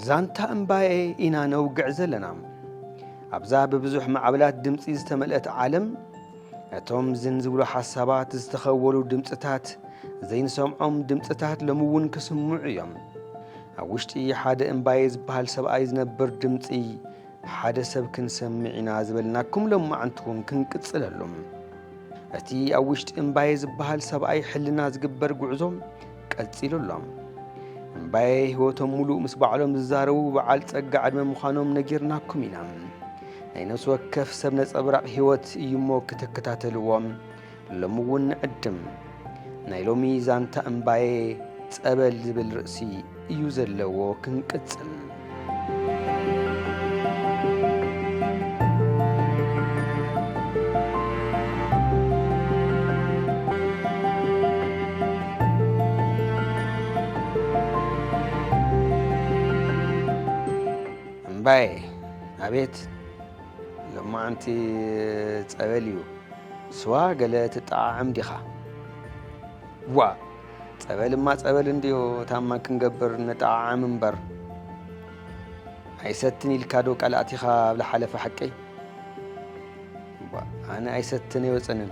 ዛንታ እምባየ ኢና ነውግዕ ዘለና ኣብዛ ብብዙሕ ማዕበላት ድምፂ ዝተመልአት ዓለም ነቶም ዝን ዝብሉ ሓሳባት ዝተኸወሉ ድምፅታት ዘይንሰምዖም ድምፅታት ሎሚ እውን ክስምዑ እዮም ኣብ ውሽጢ ሓደ እምባየ ዝበሃል ሰብኣይ ዝነብር ድምፂ ሓደ ሰብ ክንሰምዕ ኢና ዝበልናኩም ሎማዓንቲ እውን ክንቅፅለሉ እቲ ኣብ ውሽጢ እምባየ ዝበሃል ሰብኣይ ሕልና ዝግበር ጉዕዞ ቀፂሉ ኣሎ እምባየ ህይወቶም ሙሉእ ምስ ባዕሎም ዝዛረቡ በዓል ፀጋ ዕድመ ምዃኖም ነጊርናኩም ኢና ናይ ነፍሲ ወከፍ ሰብ ነፀብራቕ ህይወት እዩ እሞ ክተከታተልዎም ሎሚ እውን ንዕድም። ናይ ሎሚ ዛንታ እምባየ ጸበል ዝብል ርእሲ እዩ ዘለዎ። ክንቅጽል። እምባየ ኣቤት! ሎማዓንቲ ጸበል እዩ ስዋ ገለ ትጠዓዓም ዲኻ? ዋ ጸበልማ ጸበል እንድዮ ታማ ክንገብር ንጠዓዓም እምበር ኣይሰትን ኢልካ ዶ ቃል ኣቲኻ ኣብ ዝሓለፈ ሓቀይ ኣነ ኣይሰትን ኣይወፅንን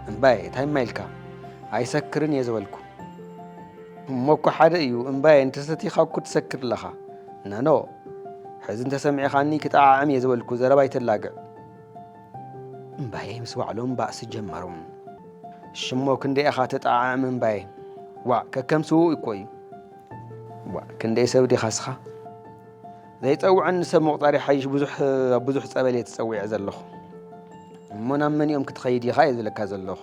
እምባየ እንታይ እማ ኢልካ ኣይሰክርን እየ ዝበልኩ እሞ እኮ ሓደ እዩ እምባየ እንተሰቲኻ እኮ ትሰክር ኣለኻ ናኖ ሕዚ እንተሰሚዕኻኒ ክጠዓዕም እየ ዝበልኩ ዘረባ ኣይተላግዕ። እምባየ ምስ ባዕሎም ባእሲ ጀመሩ። ሽሞ ክንደይ ኢኻ ተጠዓዕም እምባየ? ዋእ ከከም ስውእ እኮ እዩ። ዋእ ክንደይ ሰብ ዲኻ ስኻ? ዘይፀውዐኒ ሰብ ምቑፃር ይሓይሽ ብዙሕ ኣብ ብዙሕ ፀበል እየ ተፀዊዐ ዘለኹ እሞ ናብ መን እዮም ክትኸይድ ኢኻ እየ ዝብለካ ዘለኹ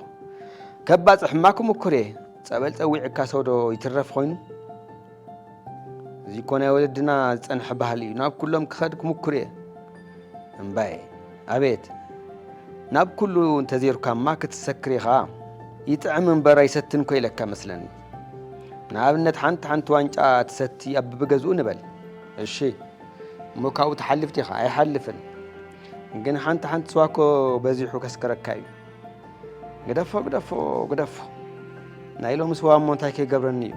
ከባፅሕ እማ ክምኩር እየ ፀበል ፀዊዕካ ሰውዶ ይትረፍ ኮይኑ እዚ እኮ ናይ ወለድና ዝፀንሐ ባህሊ እዩ ናብ ኩሎም ክኸድ ክምኩር እየ እምባየ ኣቤት ናብ ኩሉ እንተዘይርካማ ክትሰክር ኢኻ ይጥዕም እምበር ኣይሰትን ኮ ኢለካ መስለኒ ንኣብነት ሓንቲ ሓንቲ ዋንጫ ትሰቲ ኣብ ብብገዝኡ ንበል እሺ እሞ ካብኡ ትሓልፍ ዲኻ ኣይሓልፍን ግን ሓንቲ ሓንቲ ስዋ ኮ በዚሑ ከስከረካ እዩ ግደፎ ግደፎ ግደፎ ናይ ሎሚ ሰዋ እሞ እንታይ ከይገብረኒ እዩ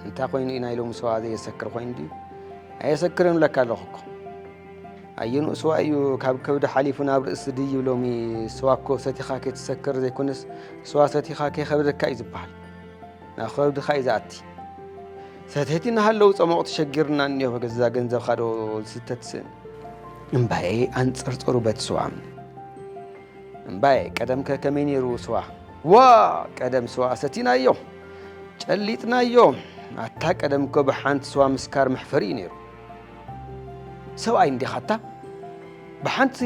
እንታይ ኮይኑ እዩ ናይ ሎሚ ሰዋ ዘየሰክር ኮይኑ ድዩ ኣየሰክርን ብለካ ኣለኹ እኮ ኣየንኡ ስዋ እዩ ካብ ከብዲ ሓሊፉ ናብ ርእሲ ድዩ ሎሚ ስዋ እኮ ሰቲኻ ከይትሰክር ዘይኮነስ ስዋ ሰቲኻ ከይከብደካ እዩ ዝበሃል ናብ ከብድካ እዩ ዝኣቲ ሰተይቲ እናሃለዉ ፀሞቕ ተሸጊርና እኒኦ በገዛ ገንዘብካ ዶ ዝስተ ትስእን እምባየ ኣንፅርፅሩ በቲ ስዋ እምባየ ቀደምከ ከመይ ነይሩ ስዋ? ዋእ ቀደም ስዋ ኣሰቲናዮ ጨሊጥናዮ። ኣታ ቀደም እኮ ብሓንቲ ስዋ ምስካር መሕፈሪ እዩ ነይሩ። ሰብኣይ እንዲኻ ኣታ ብሓንቲ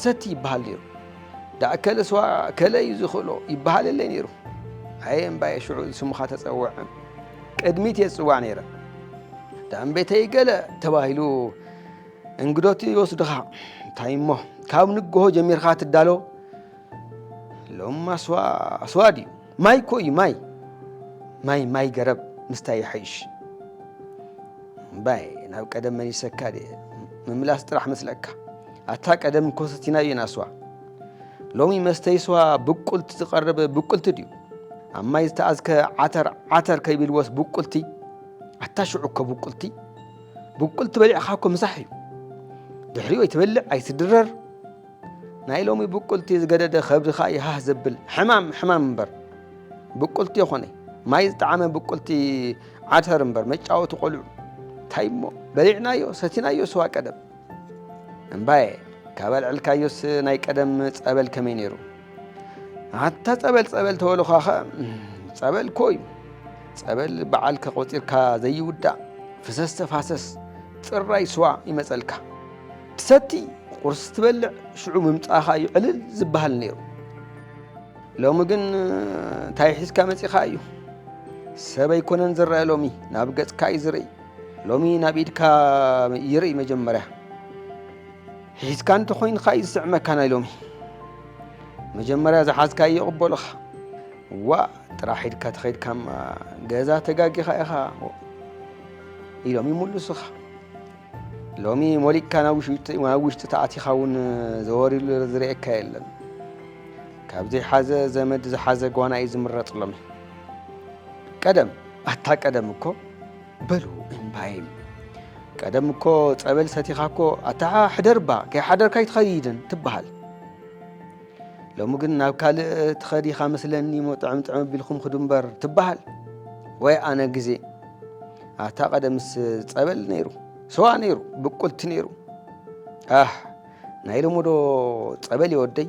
ሰቲ ይበሃል ነይሩ። ዳኣ ከለ ስዋ ከለ እዩ ዝኽእሎ ይበሃል የለ ነይሩ። ኣየ እምባየ ሽዑ ስምኻ ተፀውዐ ቅድሚት እየ ዝፅዋዕ ነይረ። ዳኣ እምቤተይ ገለ ተባሂሉ እንግዶቲ ይወስድኻ እንታይ እሞ ካብ ንግሆ ጀሚርካ ትዳሎ ሎም ኣስዋ ድዩ ማይ እኮ እዩ ማይ ማይ ማይ ገረብ ምስታይ ይሓይሽ ባይ ናብ ቀደም መሊሰካ ድየ ምምላስ ጥራሕ መስለካ ኣታ ቀደም ኮሰቲና እየን ኣስዋ ሎሚ መስተይ ስዋ ብቁልቲ ዝቐርብ ብቁልቲ ድዩ ኣብ ማይ ዝተኣዝከ ዓተር ዓተር ከይብልዎስ ብቁልቲ ኣታ ሽዑ እኮ ብቁልቲ ብቁል ትበሊዕኻ እኮ ምሳሕ እዩ ድሕሪኡ ኣይትበልዕ ኣይትድረር ናይ ሎሚ ብቁልቲ ዝገደደ ከብድኻ ይሃህ ዘብል ሕማም ሕማም እምበር ብቁልቲ የኾነ ማይ ዝጠዓመ ብቁልቲ ዓተር እምበር መጫወቲ ቆልዑ እንታይ እሞ በሊዕናዮ ሰቲናዮ ስዋ ቀደም እምባየ ካብ ኣልዕልካዮስ ናይ ቀደም ፀበል ከመይ ነይሩ ኣታ ጸበል ጸበል ተበልኳ ኸ ጸበል እኮ እዩ ጸበል በዓል ከቆጺርካ ዘይውዳእ ፍሰስ ተፋሰስ ጥራይ ስዋ ይመጸልካ ትሰቲ ቁርስ ትበልዕ ሽዑ ምምጻኻ እዩ ዕልል ዝበሃል ነይሩ ሎሚ ግን እንታይ ሒዝካ መጺኻ እዩ ሰብ ኣይኮነን ዝረአ ሎሚ ናብ ገጽካ እዩ ዝርኢ ሎሚ ናብ ኢድካ ይርኢ መጀመርያ ሒዝካ እንተኾይንካ እዩ ዝስዕመካ ናይ ሎሚ መጀመርያ ዝሓዝካ እዩ ይቕበሉኻ ዋ ጥራሕ ኢድካ ተኸይድካ ገዛ ተጋጊኻ ኢኻ ኢሎም ይምልሱኻ ሎሚ ሞሊቅካ ናብ ውሽጢ ተኣቲኻ እውን ዘወሪሉ ዝርእየካ የለን ካብዚ ሓዘ ዘመድ ዝሓዘ ጓና እዩ ዝምረጥ ሎሚ ቀደም ኣታ ቀደም እኮ በሉ እምባይም ቀደም እኮ ጸበል ሰቲኻ እኮ ኣታ ሕደርባ ከይሓደርካ ኣይትኸይድን ትበሃል ሎሚ ግን ናብ ካልእ ትኸዲኻ መስለኒ ሞ ጥዕም ጥዕም ኣቢልኩም ክዱ እምበር ትበሃል ወይ ኣነ ግዜ ኣታ ቀደምስ ፀበል ነይሩ ስዋ ነይሩ ብቁልቲ ነይሩ ኣ ናይ ሎሞዶ ፀበል ይወደይ